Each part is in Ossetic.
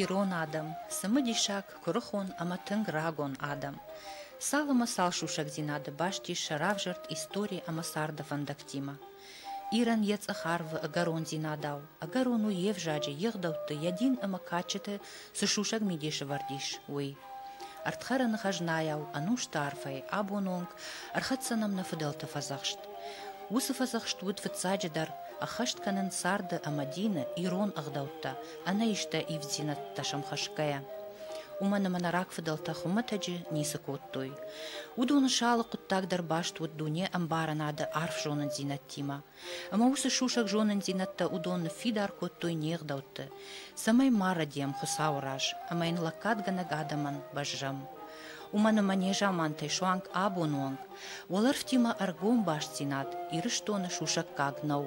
Ирон адӕм, цымыдисаг, куырыхон ӕмӕ тынг рагон адӕм. Цалынмӕ цал сусӕгдзинады баст ис сӕ равзӕрд истори ӕмӕ царды фӕндӕгтимӕ. Ирӕн йӕ цъӕх арвы ӕгӕрондзинадау, ӕгӕрон у йе взаджы, йе гъдӕутты, йӕ дин ӕмӕ кадджыты цы сусӕг мидис ӕвӕрд ис, уый. Ӕрдхӕрӕны хӕзнайау, ӕнусты арфӕй, абоны онг ӕрхӕццӕ нӕм нӕ фыдӕлты фӕдзӕхст. Уыцы фӕдзӕхст уыд фыццаджыдӕр ӕххӕст кӕнын царды ӕмӕ дины ирон ӕгъдӕуттӕ, ӕнӕистӕ ивддзинӕдтӕ сӕмхӕсгӕйӕ. Уымӕн ӕмӕ нӕ рагфыдӕлтӕ хуымӕтӕджы ницы кодтой. Уыдоны сӕ алы хъуыддаг дӕр баст уыд дуне ӕмбарынады арф зонындзинӕдтимӕ. Ӕмӕ уыцы сусӕг зонындзинӕдтӕ уыдон ныффидар кодтой не гъдӕутты, цӕмӕй ма рӕдийӕм Хуыцауы раз ӕмӕ йын лӕггадгӕнӕг адӕмӕн бӕззӕм. уымӕн ӕмӕ незамантӕй суанг абоны онг уӕлӕрвтимӕ ӕргом бастдзинад Ирыстоны сусӕггаг нӕу.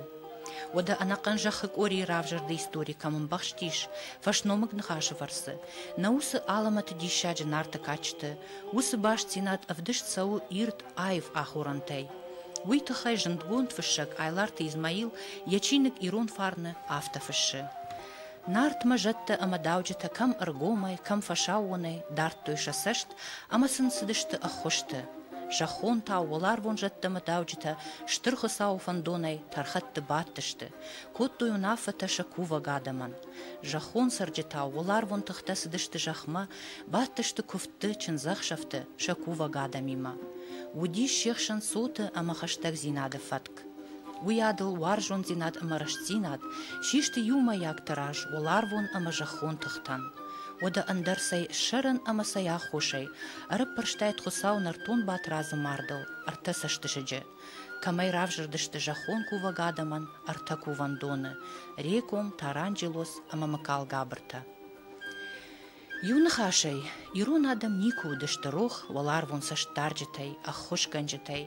Уӕдӕ ӕнӕхъӕн зӕххы къорийы равзӕрды истори кӕм ӕмбӕхст ис фӕсномыг ныхасы фӕрцы, нӕ уыцы алӕмӕты диссаджы нарты кадджыты, уыцы бастдзинад ӕвдыст цӕуы ирд аив ахорӕнтӕй. Уый тыххӕй зындгонд фыссӕг Айларты Измаил йӕ чиныг Ирон фарн-ы афтӕ фыссы. Нартмӕ зӕдтӕ ӕмӕ дауджытӕ кӕм ӕргомӕй, кӕм фӕсаууонӕй дардтой сӕ цӕст ӕмӕ сын цыдысты ӕххуысты. Зӕххонтау, уӕларвон зӕдтӕ ӕмӕ дауджытӕ Стыр Хуыцауы фӕндонӕй тӕрхӕтты бадтысты, кодтой уынаффӕтӕ сӕ кувӕг адӕмӕн. Зӕххон цӕрджытау, уӕларвон тыхтӕ цыдысты зӕхмӕ, бадтысты куывдты, чындзӕхсӕвты сӕ кувӕг адӕмимӕ. Уыдис се хсӕн цоты ӕмӕ хӕстӕгдзинады фӕтк. Уыйадыл уарзондзинад ӕмӕ рӕстдзинад систы иумӕйаг тыраз уӕларвон ӕмӕ зӕххон тыхтӕн. Уӕдӕ ӕндӕр цӕй ссӕрӕн ӕмӕ цӕй аххосӕй ӕрӕппӕрстаид Хуыцау нӕртон Батырадзы мардыл ӕртӕ цӕстысыджы, кӕмӕй равзӕрдысты зӕххон кувӕг адӕмӕн ӕртӕ кувӕндоны, Реком, Таранджелос ӕмӕ Мыкалгабыртӕ. Иу ныхасӕй, ирон адӕм никуы уыдысты рох уӕларвон цӕстдарджытӕй, ӕххуысгӕнджытӕй.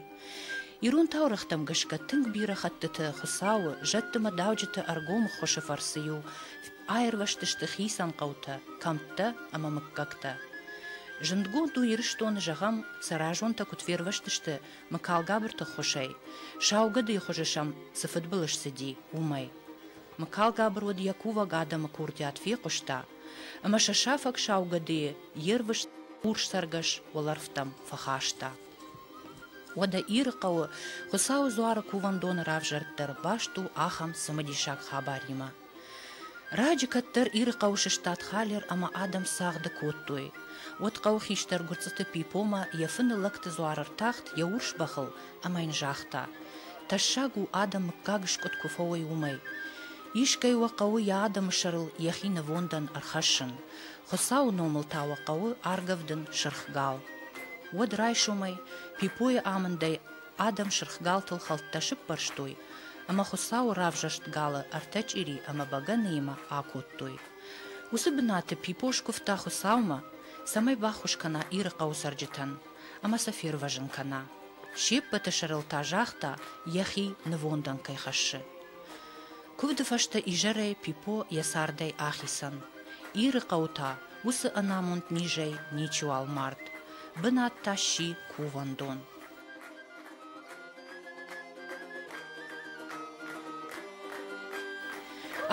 Ирон таурӕгътӕм гӕсгӕ тынг бирӕ хӕттыты Хуыцауы, зӕдты мӕ дауджыты ӕргом ӕххуысы фӕрцы-иу аирвӕзтысты хицӕн хъӕутӕ, кӕмттӕ ӕмӕ мыггӕгтӕ. Зындгонд у Ирыстоны, зӕгъӕм, Цӕразонтӕ куыд фервӕзтысты Мыкалгабырты ӕххуысӕй, сау гӕдыйы хуызы сӕм цы фыдбылыз цыди, уымӕй. Мыкалгабыр уӕд йӕ кувӕг адӕмы курдиат фехъуыста, ӕмӕ сӕ сафӕг саугӕдыйы йе рвыст урсцӕргӕс уӕлӕрвтӕм фӕхаста. Уӕдӕ Ирыхъӕуы Хуыцауы дзуары кувӕндоны равзӕрд дӕр баст у ахӕм цымыдисаг хабаримӕ. Раджы кӕддӕр Ирыхъӕуы сыстад Халер ӕмӕ адӕм цагъды кодтой. Уӕд хъӕуы хистӕр Гуырцъыты Пипомӕ йӕ фыны лӕгты дзуары ртахт йӕ урс бӕхыл ӕмӕ йын загъта, тӕссаг у адӕм мыггаг скъуыд куы фӕуой уымӕй. Искӕй уӕ хъӕуы йӕ адӕмы сӕрыл йӕхи нывондӕн ӕрхӕссын, Хуыцауы номыл та уӕ хъӕуы аргӕвдын сырх гал. Уӕд райсомӕй, Пипойы амындӕй адӕм сырх галтыл хӕлттӕ сыппӕрстой ӕмӕ Хуыцауы равзӕрст галы ӕртӕ чъири ӕмӕ бӕгӕныимӕ акодтой. Уыцы бынаты Пипо скуывта Хуыцаумӕ, цӕмӕй баххуыс кӕна Иры хъӕуы цӕрджытӕн ӕмӕ сӕ фервӕзын кӕна, се ппӕты сӕрыл та загъта, йӕхи нывондӕн кӕй хӕссы. Куывды фӕстӕ изӕрӕй Пипо йӕ цардӕй ахицӕн. Иры хъӕу та уыцы ӕнамонд низӕй ничиуал мард, бынат та сси кувӕндон.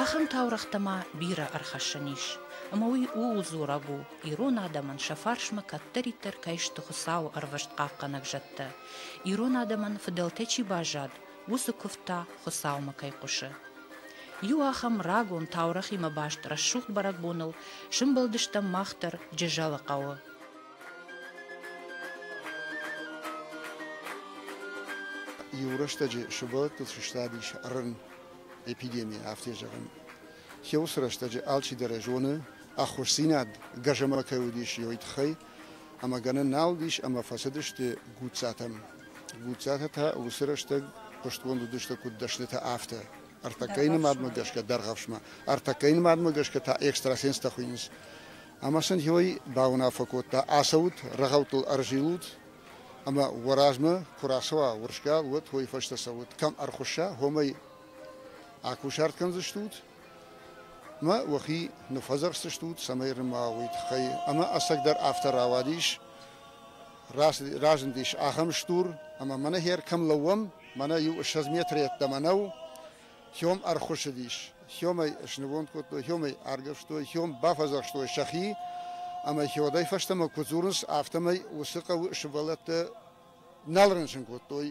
Ахӕм таурӕгътӕ ма бирӕ ӕрхӕссӕн ис, ӕмӕ уый ууыл дзурӕг у, ирон адӕмӕн сӕ фарсмӕ кӕддӕриддӕр кӕй сты Хуыцауы ӕрвыст хъахъхъӕнӕг зӕдтӕ, ирон адӕмӕн фыдӕлтӕ чи баззад, уыцы куывд та Хуыцаумӕ кӕй хъуысы. Иу ахӕм рагон таурӕгъимӕ баст рӕсугъд бӕрӕгбоныл сымбӕлдыстӕм мах дӕр Джызӕлы хъӕуы. Иу рӕстӕджы сывӕллӕттыл сыстадис рын, эпидеми, афтӕ зӕгъын. Хеуыцы рӕстӕджы алчидӕр зоны, ӕххуысдзинад гӕзӕмӕ кӕй уыдис, уый тыххӕй, ӕмӕ гӕнӕн нал уыдис ӕмӕ фӕцыдысты Гуццатӕм. Гуццатӕ та уыцы рӕстӕг хъуыстгонд уыдысты куыд дӕснытӕ, афтӕ. Ӕртӕккӕйы нымадмӕ гӕсгӕ дӕргъӕвсмӕ, ӕртӕккӕйы нымадмӕ гӕсгӕ та экстрасенстӕ хуыйынц. Ӕмӕ сын Хёй бауынаффӕ кодта, ацӕут, рӕгъӕуттыл ӕрзилут, ӕмӕ уӕ размӕ куы рацӕуа урсгал, уӕд уый фӕстӕ цӕут. Кӕм ӕрхуысса, уымӕй акусарт кӕндзыстут, мӕ уӕхи ныффӕдзӕхсдзыстут, цӕмӕй нымауа уый тыххӕй. Ӕмӕ ӕцӕгдӕр афтӕ рауадис. разындис ахӕм стур, ӕмӕ мӕнӕ хер кӕм лӕууӕм, мӕнӕ иу ссӕдз метры йеддӕмӕ нӕу, Хём ӕрхуыссыдис. Хёмӕй снывонд кодтой, Хёмӕй аргӕвстой, Хём бафӕдзӕхстой сӕхи, ӕмӕ Хёдӕй фӕстӕмӕ куыд дзурынц, афтӕмӕй уыцы хъӕуы сывӕллӕттӕ нал рынчын кодтой.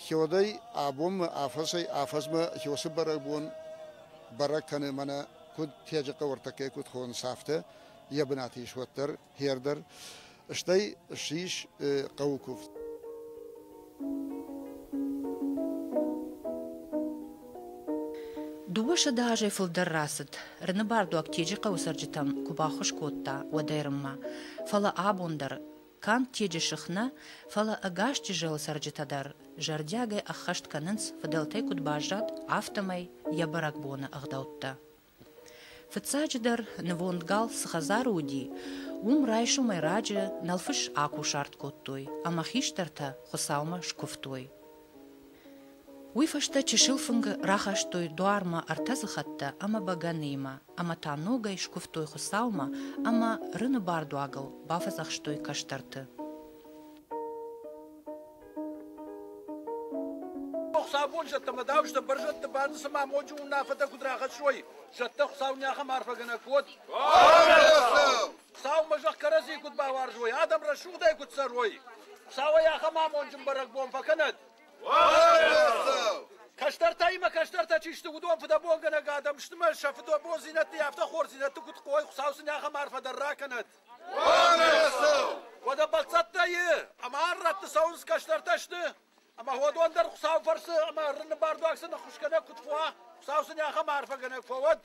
Хёдӕй абонмӕ афӕдзӕй-афӕдзмӕ Хёсы бӕрӕгбон бӕрӕг кӕны, мӕнӕ куыд Теджы хъӕуы ӕртӕккӕ куыд хонынц, афтӕ, йӕ бынаты ис уӕддӕр. Хер дӕр, стӕй ссис хъӕуы куывд. Дыууӕсӕдӕ азӕй фылдӕр рацыд, Рыныбардуаг Теджы хъӕуы цӕрджытӕм куы баххуыс кодта, уӕд ӕрыммӕ. Фӕлӕ абон дӕр, канд Теджы сых нӕ, фӕлӕ ӕгас Чызджыхъӕуы цӕрджытӕ дӕр зӕрдиагӕй ӕххӕст кӕнынц, фыдӕлтӕй куыд баззад, афтӕмӕй йӕ бӕрӕгбоны ӕгъдӕуттӕ Фыццаджыдӕр, нывонд гал цы хӕдзары уыди, уым райсомӕй раджы нӕлфыс акусарт кодтой ӕмӕ хистӕртӕ Хуыцаумӕ скуывтой. Уый фӕстӕ чысыл фынгы рахастой дуармӕ ӕртӕ дзыхӕттӕ ӕмӕ бӕгӕныимӕ, ӕмӕ та ногӕй скуывтой Хуыцаумӕ ӕмӕ рыны бардуагыл бафӕдзӕхстой кӕстӕрты. Хуыцаубон зӕдтӕмӕ дауыс дӕ бӕрзӕдты бӕрны цыма моджы уынаффӕтӕ куыд рахӕссой. Зӕдтӕ Хуыцау не ахӕм арфӕгӕнӕг куыд? Хуыцаумӕ зӕхх кӕрӕдзийы куыд бауарзой, адӕм рӕсугъдӕй куыд цӕрой. Хуыцауӕй ахӕм амонджын бӕрӕгбон фӕкӕнӕд! Кӕстӕртӕ имӕ кӕстӕртӕ чи сты, уыдон фыдӕбонгӕнӕг адӕм сты мӕ сӕ фыдӕбондзинӕдты, афтӕ хорздзинӕдты куыд хъой, Хуыцау сын ахӕм арфӕ дӕр ракӕнӕд! Уӕдӕ бӕлццӕттӕ и, ӕмӕ ӕррӕтты цӕуынц кӕстӕртӕ сты, ӕмӕ уӕдон дӕр Хуыцауы фӕрцы ӕмӕ ӕррынны бардуаг сын ӕххуысгӕнӕг куыд фуа, Хуыцау сын ахӕм арфӕгӕнӕг фӕуӕд.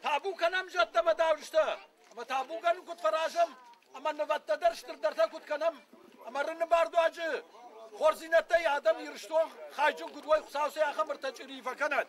Табу кӕнӕм зӕдтӕ ӕмӕ давджытӕ, ӕмӕ табугӕ нын куыд фӕразӕм, ӕмӕ нывӕдтӕ дӕр стырдӕртӕ куыд кӕнӕм, ӕмӕ рынны бардуаджы хорздзинӕдтӕй адӕм Ирыстон хайджын куыд уой, Хуыцау сӕ ахӕм ӕртӕ чъирийы фӕкӕнӕд.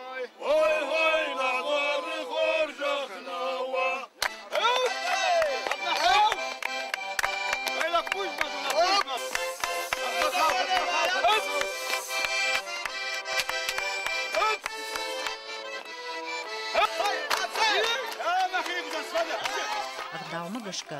ӕгъдаумӕ гӕсгӕ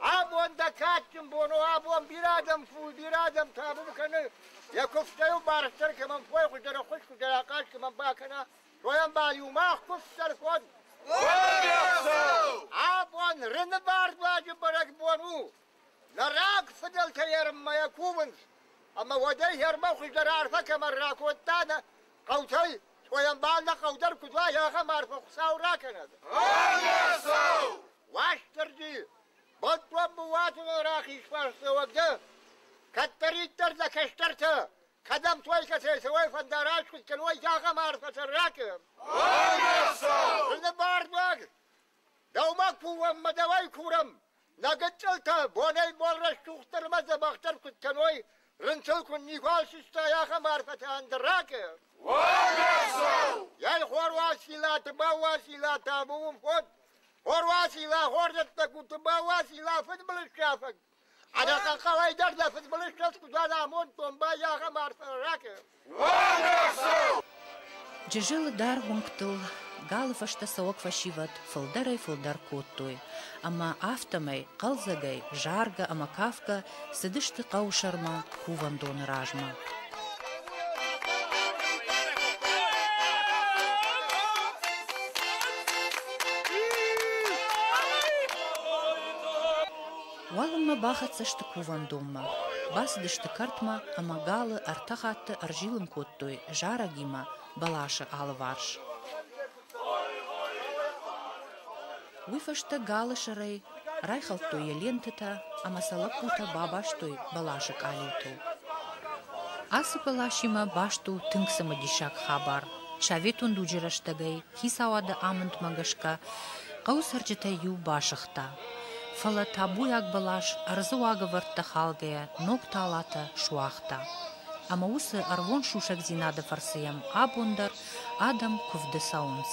Абон дӕ кадджын бон у, абон бирӕ адӕм фул, бирӕ адӕм табу кӕны, йӕ куывдтӕ-иу барддӕр кӕмӕн кой, хуыздӕр хъуыд, хуыздӕр ахъаз кӕмӕн бакӕна, уӕм бал-иу мах куывддӕр код. Абон Рыны бардуаджы бӕрӕгбон у. Нӕ раг фыдӕлтӕ ерынмӕ кувынц, ӕмӕ уӕдӕй ермӕ хуыздӕр арфӕ кӕмӕн ракодта, нӕ хъӕутӕй, Къоямбал нӕ хъӕу дӕр куыд уа, ахӕм арфӕ Хуыцау ракӕнӕд! Ӕмӕ Уастырджи, бонтон быууатоныл рахиз фарсдзӕуӕг дӕ, кӕддӕриддӕр дӕ кӕстӕртӕ, кӕдӕм той кӕцӕй цӕуой фӕндар аскуыд кӕной, ахӕм арфӕ сӕ ракӕн! Ӕмӕ бардуаг, Дӕумӕ ку уӕм ма дӕуӕй курӕм, нӕ гыццылтӕ бонӕй-бон рӕстугъддӕр ӕмӕ дзӕбӕхдӕр куыд кӕной, рынчыл куыд никуал сыстай, ахӕм арфӕтӕ ӕндӕрӕгы. Уогӕрсау! Ей, Хоруасила, дымӕ Уасила, дӕ бон фод! Хоруасила, хорзӕттӕ, гуты бауасила, фыдбылызсафӕг! Ӕнӕхъӕлӕй дӕр дӕ фыдбылызтӕ куыд амондтон, бай ахӕм арфӕ ракӕ! Джызӕлы даргъ уынгтыл галы фӕстӕ цӕуӕг фӕсивӕд фылдӕрӕй-фылдӕр кодтой, ӕмӕ афтӕмӕй, хъӕлдзӕгӕй, заргӕ ӕмӕ кафгӕ цыдысты хъӕусӕрмӕ кувӕндоны размӕ. Уалынмӕ бахӕццӕ сты кувӕндонмӕ. Бацыдысты кӕртмӕ ӕмӕ галы ӕртӕ хатты ӕрзилын кодтой зарӕгимӕ бӕласы алыварс. Уый фӕстӕ галы сӕрӕй райхӕлдтой йӕ лентӕтӕ ӕмӕ сӕ лӕппутӕ бабастой бӕласы къалиутыл. Ацы бӕласимӕ баст у тынг цымыдисаг хабар. Советон дуджы рӕстӕгӕй хицауады амындмӕ гӕсгӕ хъӕуы цӕрджытӕй иу басыгъта, фӕлӕ табуйаг бӕлас ӕрдзы уагӕвӕрдтӕ халгӕйӕ ног талатӕ суагъта ӕмӕ уыцы ӕрвон сусӕгдзинады фӕрцы йӕм абон дӕр адӕм куывды цӕуынц.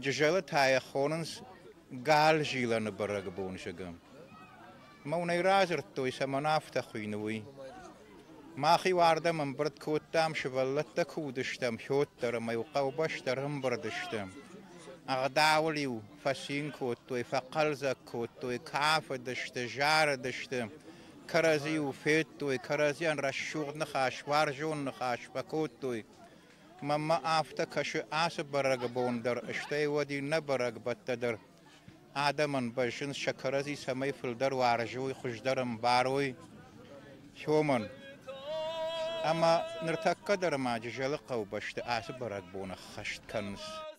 Джызӕлы та йӕ хонынц Гӕлзилӕны бӕрӕгбоны зыгым. Мӕнӕй радзырдтой, цӕмӕн афтӕ хуыйны, уый. Мах-иу ардӕм ӕмбырд кодтам, сывӕллӕттӕ куы уыдыстӕм, хьот дӕр ӕмӕ-иу хъӕубӕстӕ ӕрӕмбырд сты. Ӕгъдауыл-иу фӕцин кодтой, фӕхъӕлдзӕг кодтой, кафыдысты, зарыдысты, кӕрӕдзийыл федтой, кӕрӕдзийӕн рӕсугъд ныхас, уарзон ныхас фӕкодтой. Маммӕ афтӕ кӕсы ацы бӕрӕгбон дӕр, стӕй уӕд иннӕ бӕрӕгбӕттӕ дӕр. Адӕмӕн бӕззынц сӕ кӕрӕдзи цӕмӕй фылдӕр уарзой, хуыздӕр ӕмбарой. Сомон ӕмӕ ныртӕккӕ дӕр ма Джызӕлы хъӕубӕсты ацы бӕрӕгбон ӕххӕст кӕнынц.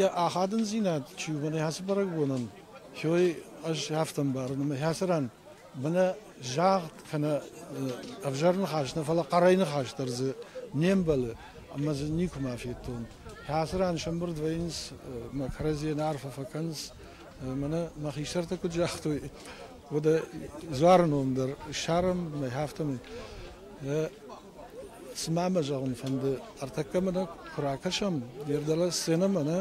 йӕ ахадындзинад чи у бынӕй хацы бӕрӕгбонӕн, хой ӕз афтӕ мбарын, ӕмӕ хацы ран бынӕ загъд кӕнӕ ӕвзӕр ныхас нӕ, фӕлӕ хъӕрӕй ныхас дӕр дзы не мбӕлы, ӕмӕ дзы никуыма федтон. Хацы ран сӕмбырд вӕййынц, мӕ кӕрӕдзийӕн арфӕ фӕкӕнынц, мӕнӕ мӕ хистӕртӕ куыд загътой, Уӕдӕ Дзуары ном дӕр ссарын, афтӕмӕй. Цыма мӕ зӕгъын фӕнды, ӕртӕккӕ мӕ куы ракӕсӕм йе рдӕлӕ сценӕмӕ, нӕ,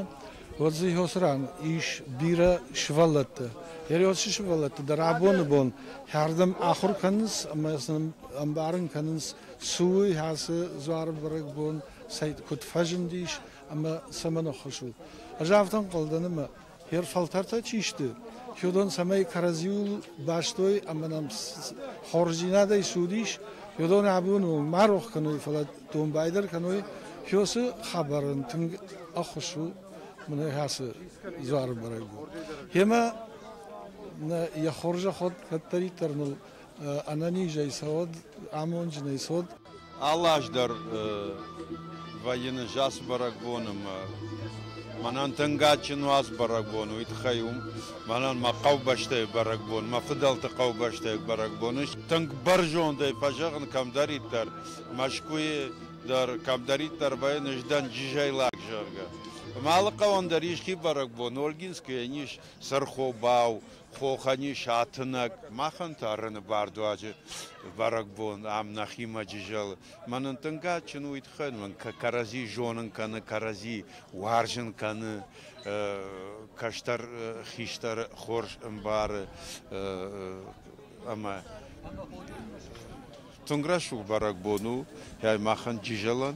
уӕд дзы Иосы ран ис бирӕ сывӕллӕттӕ. Иосы сывӕллӕттӕ дӕр абоны бон хӕрдӕм ахуыр кӕнынц ӕмӕ сын ӕмбарын кӕнынц, цы у ацы Дзуары бӕрӕгбон, куыд фӕзындис ӕмӕ цӕмӕн ӕххуыс у. Ӕз афтӕ ӕнхъӕл дӕн, ӕмӕ Йе рфӕлтӕртӕ чи сты, уыдон цӕмӕй кӕрӕдзиуыл бастой ӕмӕ нӕм хорздзинадӕй цы уыдис, уыдон абоны онг ма рох кӕной, фӕлӕ домбай дӕр кӕной, уыцы хабар ын тынг ӕххуыс у мынӕг ацы дзуары бӕрӕг у. Йемӕ нӕ йӕ хорзӕход кӕддӕриддӕр ныл ӕнӕнизӕй цӕуӕд, амонджынӕй цӕуӕд. Алы аз дӕр вӕййын ӕз бӕрӕгбон ӕмӕ мӕнӕн тынг адджын у ацы бӕрӕгбон. Уый тыххӕй у мӕнӕн мӕ хъӕубӕстӕйы бӕрӕгбон, мӕ фыдӕлты хъӕубӕстӕйы бӕрӕгбон. Ис тынг бӕрзондӕй фӕзӕгъын кӕмдӕриддӕр, Мӕскуыйы дӕр кӕмдӕриддӕр вӕййын, ӕз дӕн джизӕй лӕг, зӕгъгӕ. Ӕмӕ алы хъӕуӕн дӕр ис хи бӕрӕгбон. Ольгинскы йӕн ис сырхобау, хохани сатынӕг, махӕн та Рыны бардуаджы бӕрӕгбон ам нӕхимӕ джы зӕлы. Мӕнӕн тынг адджын у уый тыххӕй, мӕн кӕрӕдзи зонын кӕны, кӕрӕдзи уарзын кӕны, кӕстӕр хистӕр хорз ӕмбары ӕмӕ тынг рӕсугъд бӕрӕгбон у махӕн Джызӕлӕн.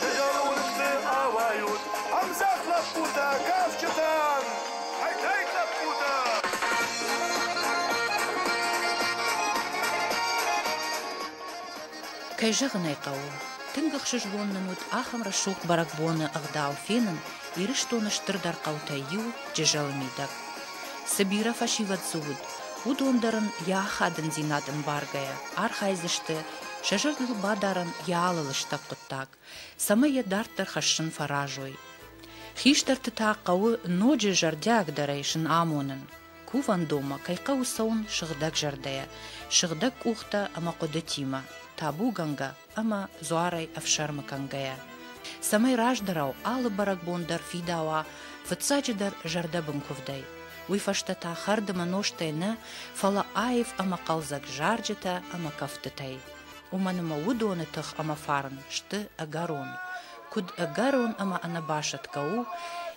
Дыгъыл уысты ауайут ӕмдзӕф лӕппутӕ, кафджытӕн! Ӕй-ӕй, лӕппутӕ! Кӕй зӕгъын ӕй хъӕуы, тынг ӕхсызгон нын уыд ахӕм рӕсугъд бӕрӕгбоны ӕгъдау фенын Ирыстоны стырдӕр хъӕутӕй иу, Джызӕлы мидӕг. Цы бирӕ фӕсивӕд дзы уыд, уыдон дӕр ын йӕ ахадындзинад ӕмбаргӕйӕ архайдзысты Сӕ зӕрдыл бадарын йӕ алы лыстӕг хъуыддаг, цӕмӕй йӕ дарддӕр хӕссын фӕразой. Хистӕрты та хъӕуы ноджы зӕрдиагдӕрӕй сын амонын, кувӕндонмӕ кӕй хъӕуы цӕуын сыгъдӕг зӕрдӕйӕ, сыгъдӕг къухтӕ ӕмӕ хъуыдытимӕ, табугӕнгӕ ӕмӕ дзуарӕй ӕфсӕрмы кӕнгӕйӕ, цӕмӕй раздӕрау алы бӕрӕгбон дӕр фидауа, фыццаджыдӕр зӕрдӕбын куывдӕй. уый фӕстӕ та хӕрдымы нозтӕй нӕ, фӕлӕ аив ӕмӕ хъӕлдзӕг зарджытӕ ӕмӕ кӕфтытӕй. Уымӕн ӕмӕ уыдоны тых ӕмӕ фарн сты ӕгӕрон. Куыд ӕгӕрон ӕмӕ ӕнӕбасӕтгӕ у,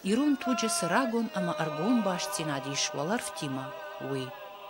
ирон туджы цы рагон ӕмӕ ӕргом бастдзинад ис уӕлӕрвтимӕ, уый!